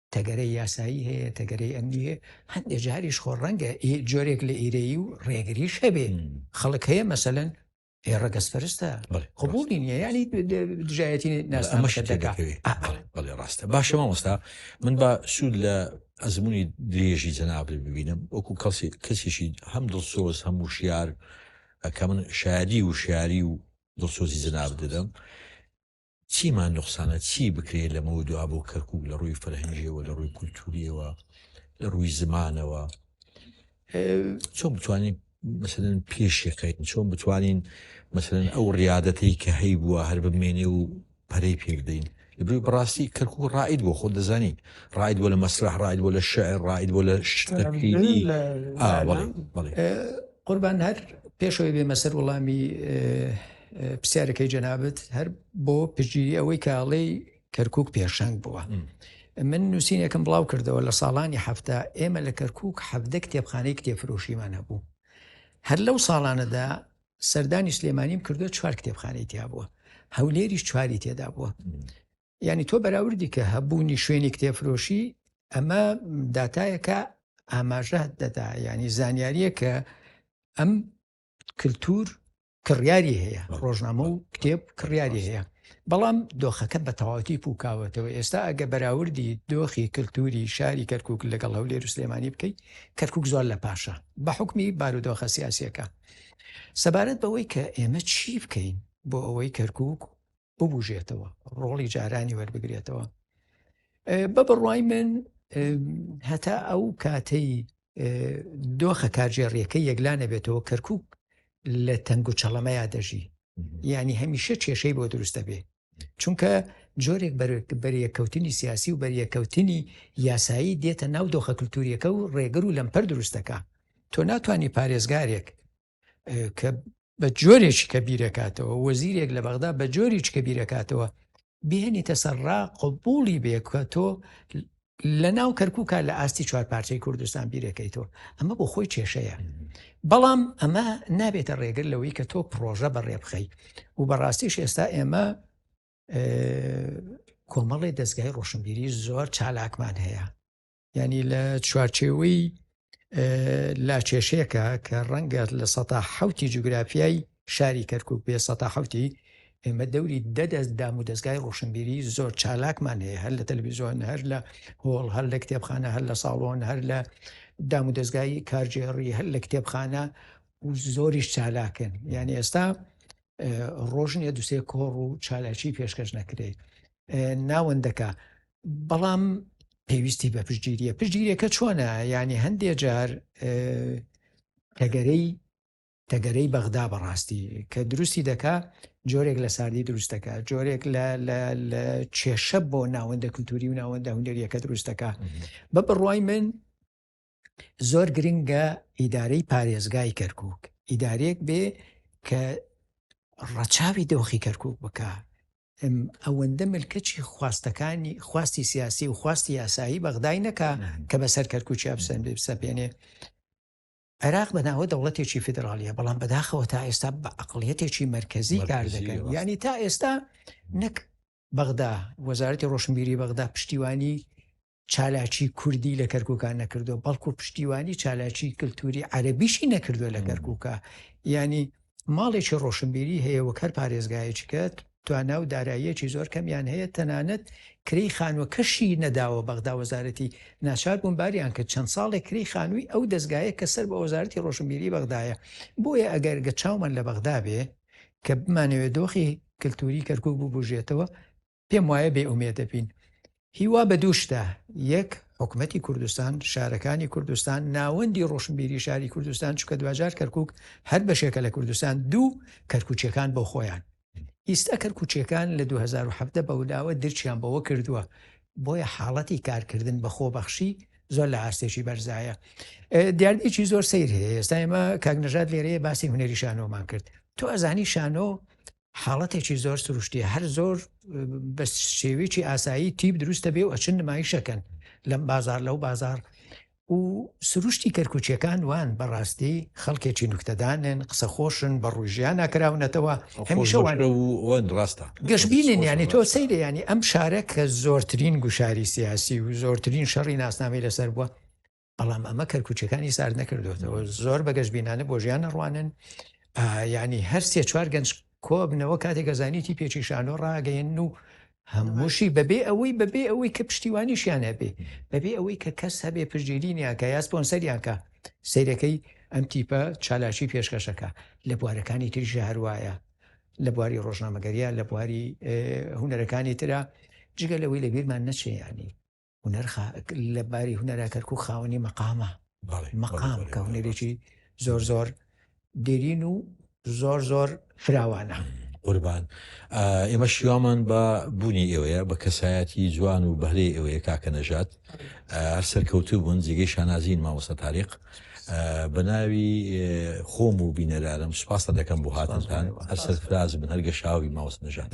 تەگەرەی یاسایی هەیە تەگەرەی ئەمنی هەیە هەندێک جاریش خۆ ڕەنگە جۆرێک لە ئیرەیی و ڕێگریش هەبێ خەڵک هەیە مەسەن هێ ڕەگەز فەرستە قوبولی نیە ینی دژایەتی ناسمەشە دەکات بەڵێ ڕاستە باشە مامۆستا من بە سوود لە ئەزمموی درێژی جەنابێ ببینم وەکو کەسی کەسیشی هەم دڵسۆز هەم وشیار کە من شاری و شاری و دڵسۆزی جەناب دەدەم چیمان نوقسانە چی بکرێت لەمەوە دوا بۆ کەرکک لە ڕووی فەرهەنگیەوە لە ڕووی کولتوریەوە لە ڕووی زمانەوە چۆن بتوانین مثلەن پێشەکەین چۆن بتوانین مثلەن ئەو ڕیادەتەی کە هەی بووە هەر بمێنێ و پەرەی پێبدەین لەبری بڕاستی کەرک و ڕائید بۆ خۆ دەزانین ڕاید بۆ لە مەسرح ڕاید بۆ لە شعر ڕاید بۆ لە شتەکردی قوربان هەر پێشەوەی بێمە سەر وەڵامی پرسیارەکەی جەنابەت هەر بۆ پژیری ئەوەی کاڵێی کەرکک پێشەنگ بووە. من نووسینێکم بڵاو کردەوە لە ساڵانی هەفتە ئێمە لە کەرکک حەفدە کتێبخانەی کتێفرۆشیمان هەبوو. هەر لەو ساڵانەدا سەردانی سلێمانیم کردو چوار کتێبخانەی تیا بووە هەولێری چواری تێدا بووە. ینی تۆ بەراوردی کە هەبوونی شوێنی کتێفرۆشی ئەمە داتایەکە ئاماژە دەدا ینی زانیاریە کە ئەم کللتور کڕیاری هەیە ڕۆژنامە و کتێب کڕیاری هەیە بەڵام دۆخەکە بە تەواتی پوکاوەتەوە ئێستا ئەگە بەراوردی دۆخی کللتوری شاری کەرکک لەگەڵ هەولێر سلێمانی بکەیت کەرکک زۆر لە پاشە بە حکمی بارودۆخە سیاسەکە سەبارەت بەوەی کە ئێمە چی بکەین بۆ ئەوەی کەرکک ببوژێتەوە ڕۆڵی جارانی وەربگرێتەوە بە بڕوای من هەتا ئەو کاتەی دۆخە کارژێڕیەکە یەکلانە بێتەوە کەرکک لە تەنگ و چەڵەمەیا دەژی ینی هەمیشە کێشەی بۆ دروست دەبێ چونکە جۆرێک بەریەکەوتنی سیاسی و بەریەکەوتنی یاسایی دێتە ناو دۆخە کللتوریەکە و ڕێگر و لەمپەر دروستەکە تۆ ناتانی پارێزگارێک کە بە جۆرێکی کە بیرەکاتەوە وەزیرێک لە بەغدا بە جۆریچ کە بیرەکاتەوە بێنی تەسەرڕا قبولی بێکە تۆ لە ناو کەرکووکە لە ئاستی چوار پارچەی کوردستان بیرەکەیتەوە ئەمە بۆ خۆی کێشەیە بەڵام ئەمە نابێتە ڕێگر لەوەی کە تۆ پرۆژە بەڕێ بخەی و بەڕاستیش ئێستا ئێمە کۆمەڵی دەستگای ڕۆشنبیری زۆر چالاکمان هەیە ینی لە چوارچێوەی لاکێشەیەەکە کە ڕەنگە لە سەتا حوتی جوگرافیای شاری کەرکک بێ سەتا حوتی ئێمە دەوری دەدەست دام و دەستگای ڕۆشنبیری زۆر چالاکمان هەیە هەر لە تەلویزیۆن هەر لە هۆڵ هەر لە کتێبخانە هەر لە ساڵۆن هەر لە دام و دەستگای کارجێڕی هەر لە کتێبخانە و زۆریش چالاکن یعنی ئێستا ڕۆژنیە دوسێ کۆڕ و چالاکی پێشکەش نەکرێت ناوەندەکە بەڵام پێویستی بە پشتگیریە پشتگیرەکە چۆنە ینی هەندێک جار تەگەرەی تەگەرەی بەغدا بەڕاستی کە دروستی دەکا جۆرێک لە ساردی دروستەکە جۆرێک لە کێشە بۆ ناوەندە کللتوری و ناوەندە هوندێریەکە دروستەکە بە بڕوای من زۆر گرنگە ئیدارەی پارێزگای کەرکک ئیدارێک بێ کە ڕەچاوی دۆخی کەرکک بکە م ئەوەندە ملکەچی خواستەکانی خواستی سیاسی و خواستی یاسایی بەغدای نەکا کە بەسەر کەرکوچی ئەفسەن بێ بسەپێنێ عێراق بەناوە دەوڵەتێکی فیدراالیە بەڵام بەداخەوە تا ئێستا بە عقلیەتێکی مرکزی کار دەکەن ینی تا ئێستا نەک بەغدا وەزارەتی ڕۆشنبیری بەغدا پشتیوانی چالاکی کوردی لە کەرکوکان نەکردو بەڵکو پشتیوانی چالاکی کللتوری عەربیشی نەکردووە لە گەرکوکە ینی ماڵێکی ڕۆشنبیری هەیە وە کەر پارێزگایچکەت توانا و داراییەکی زۆر کەمیان هەیە تەنانەت کری خانوە کەشی نەداوە بەغدا وەزارەتی ناچار بوون باریان کرد چەند ساڵێک کری خانووی ئەو دەستگایە کە سەر بە وەزارەتی ڕۆشنبیری بەغدایە بۆیە ئەگەر گە چاومان لە بەغدا بێ کە بمانەوێت دۆخی کللتوری کەرکک بوو بژێتەوە پێم وایە بێ ئومێ دەبین هیوا بە دوو شتە یەک حکوومەتتی کوردستان شارەکانی کوردستان ناوەندی ڕۆشنبیری شاری کوردستان چکە دواجار کەرکک هەر بەشێکە لە کوردستان دوو کەرکوچەکان بۆ خۆیان ئیستا کەرکوچەکان لە 2017 بەولاوە درچیان بەوە کردووە بۆیە حاڵەتی کارکردن بە خۆبەخشی زۆر لە ئاستێکی بەرزایە دیاردێکی زۆر سیر هەیە ئێستا ئێمە کاک نەژات لێرەیە باسی هوەری شانۆمان کرد تۆ ئەزانی شانۆ حاڵەتێکی زۆر سروشتیە هەر زۆر بە شێوێکی ئاسایی تیپ دروستە بێ و ئەچن نمایشەکەن لەم بازار لەو بازار و سروشتی کەرکوچیەکان وان بەڕاستی خەڵکێکی نوکتەدانێن قسە خۆشن بە ڕژیان ناکراونەتەوە هەمیشەوانە وەند ڕاستە گەشببینن ینی تۆ سەیرە ینی ئەم شارە کە زۆرترین گوشاری سیاسی و زۆرترین شەڕی ناسنامەی لەسەر بووە بەڵام ئەمە کەرکوچەکانی سارد نەکردوێتەوە زۆر بە گەشتبینانە بۆ ژیان نەڕوانن ینی هەر سێ چوار گەنج کۆبنەوە کاتێک گەزانیتی پێچی شانۆ ڕاگەین و هەمووشی بەبێ ئەوەی بەبێ ئەوەی کە پشتیوانیشیان هەبێ بەبێ ئەوەی کە کەس هەبێ پشتگیرینیانکە یاسپۆنسەریانکە سیرەکەی ئەم تیپە چالاکی پێشکەشەکە لە بوارەکانی تریژە هەروایە لە بواری ڕۆژنامەگەریە لە بواری هوەرەکانی تررا جگە لەوەی لە بیرمان نەچێیانی هونەرخا لە باری هونەرا کەرکک خاوەنی مەقامە مەقام کە هونەرێکی زۆر زۆر دێرین و زۆر زۆر فراوانە قوربان ئێمە شیوامان بە بوونی ئێوەیە بە کەسایەتی جوان و بەهرەی ئەوەیە کاکە نەژات هەر سەرکەوتوو بوون جێگەی شانازین مامۆستا تاریق بەناوی خۆم و بینەرانم سپاستە دەکەم بۆ هاتنتان هەر سەرفراز بن هەر گەشاوی ماوەست نەژان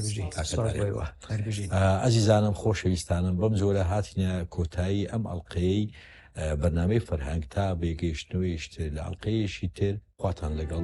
ئازیزانم خۆشەویستانم بەم جۆرە هاتنە کۆتایی ئەم ئەڵلقەیەی بەنامەی فەرهەنگ تا بێگەیشتنەوەیشتر لە ئەڵلقەیەشی تر خواتان لەگەڵ